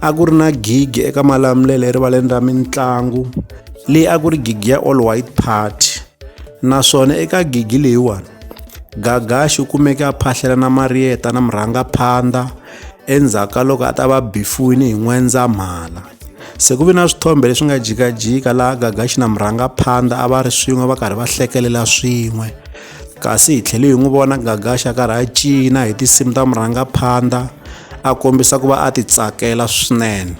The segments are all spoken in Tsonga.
a ku ri na gigi eka malamulelo erivaleni ra mitlangu leyi a ku ri gigi ya all white party naswona eka gigi leyiwani gagaxi u kumeke a phahlela na mariyeta na murhangaphandha endzhaku ka loko a ta va bifuwini hi n'wendzamhala se ku ve na swithombe leswi nga jikajika laha gagaxi na murhangaphandha a va ri swin'we va karhi va hlekelela swin'we kasi hi tlhele hi n'wi vona gagaxa karhi a cina hi tinsimu ta murhangaphandha a kombisa ku va a ti tsakela swinene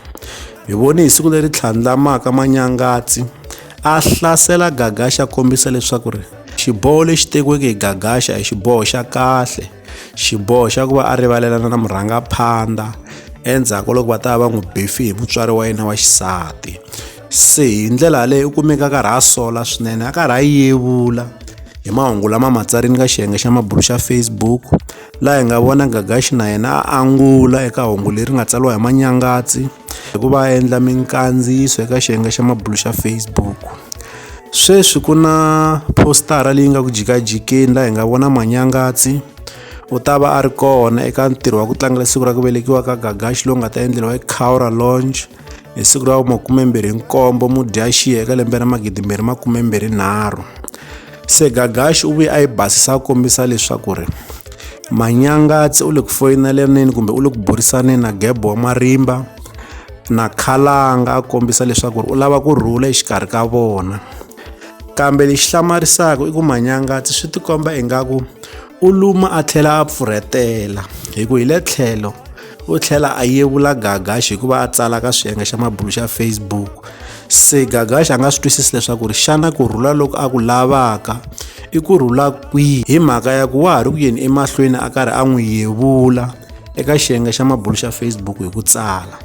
hi vone hi siku leri tlhandlamaka manyangatsi a hlasela gagaxa kombisa leswaku ri xiboho lexi tekiweke hi gagaxa hi xiboho xa kahle xiboho xa ku va a rivalelana na murhangaphandha endzhaku loko va ta va n'wi bifi hi mutswari wa yena wa xisati se hi ndlela yaleyo u kumeka a karhi a sola swinene a karhi a yevula hi mahungu lama ma tsarini ka xiyenge xa mabulu xa facebook laha hi nga vona gagaxi na yena a angula eka hungu leri nga tsariwa hi manyangatsi hi ku va endla minkandziyiso eka xiyenge xa mabulu xa facebook sweswi ku na postara leyi nga ku jikajikeni laha hi nga vona manyangatsi u ta va a ri kona eka ntirho wa ku tlangela siku ra ku velekiwa ka gagaxi lowu nga ta endleriwa ecaura lounge hi siku ra makumembirhi nkombo mudyaxiya eka lembe ra magidimbirhi makumembirhi nharhu se gagaxi u vuye a yi basisa a kombisa leswaku ri manyangatsi u le ku foyinelaneni kumbe u le ku burisaneni na gebo wa marimba na khalanga a kombisa leswaku ri u lava ku rhula exikarhi ka vona kambe lexi hlamarisaka i ku manyangatsi swi tikomba ingaku u luma a tlhela a pfurhetela hi ku hi le tlhelo u tlhela a yevula gagax hikuva a tsala ka swiyenge xa mabulu xa facebook se gagax a nga swi twisisi leswaku ri xana ku rhula loko a ku lavaka i ku rhula kwihi hi mhaka ya ku wa ha ri ku yeni emahlweni a karhi a n'wi yevula eka xiyenge xa mabulu xa facebook hi ku tsala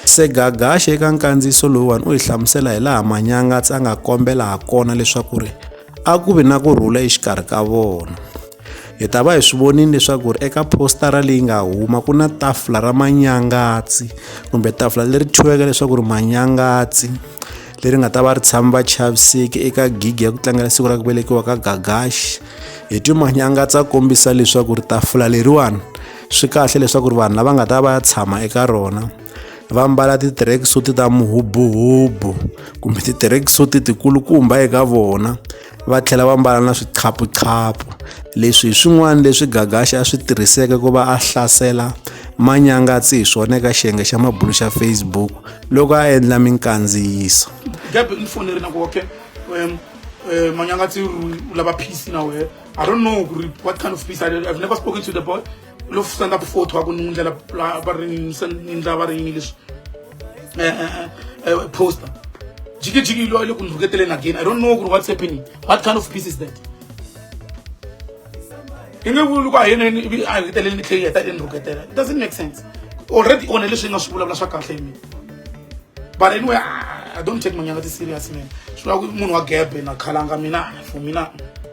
se gagax eka nkandziyiso lowuwani u hi hlamusela hi laha manyangatsi a nga kombela ha kona leswaku ri a ku vi na ku rhula exikarhi ka vona hi ta va hi swi vonile leswaku ri eka postara leyi nga huma ku na tafula ra manyangatsi kumbe tafula leri thyiweke leswaku ri manyangatsi leri nga ta va ri tshami va chaviseki eka gigi ya ku tlangela siku ra ku velekiwa ka gagaxi hi ti manyangatsi a kombisa leswaku ri tafula leriwani swi kahle leswaku ri vanhu lava nga ta va ya tshama eka rona va mbala ti-tracksuit ta muhubuhubu kumbe ti-tracksuit tikulukumba eka vona va tlhela va mbala na swiqhaphuqhaphu leswi hi swin'wana leswi gagaxi a swi tirhiseke ku va a hlasela manyangatsi hi swona eka xiyenge xa mabulu xa facebook loko a endla minkandziyiso gabe ni foneri na ku okay um, um, manyangatsi u lava peace na wehe I don't know what kind of peace. I, I've never spoken to the boy. lo stand up photo wa ku ni ndlela va ri ni ndlela va ri yini leswi eh, eh, eh, poster jikijiki lo le ku ni rhuketeleni again i don't know ku ri what's happening what kind of peace is that i nge vuli ku a yena a rhuketeleni ni tlheli heta ni rhuketela it doesn't make sense already one leswi yi nga swi vulavula swa kahle hi mina but anyway i don't take manyanga ti serious man swi vula ku munhu wa gebe na khalanga mina for mina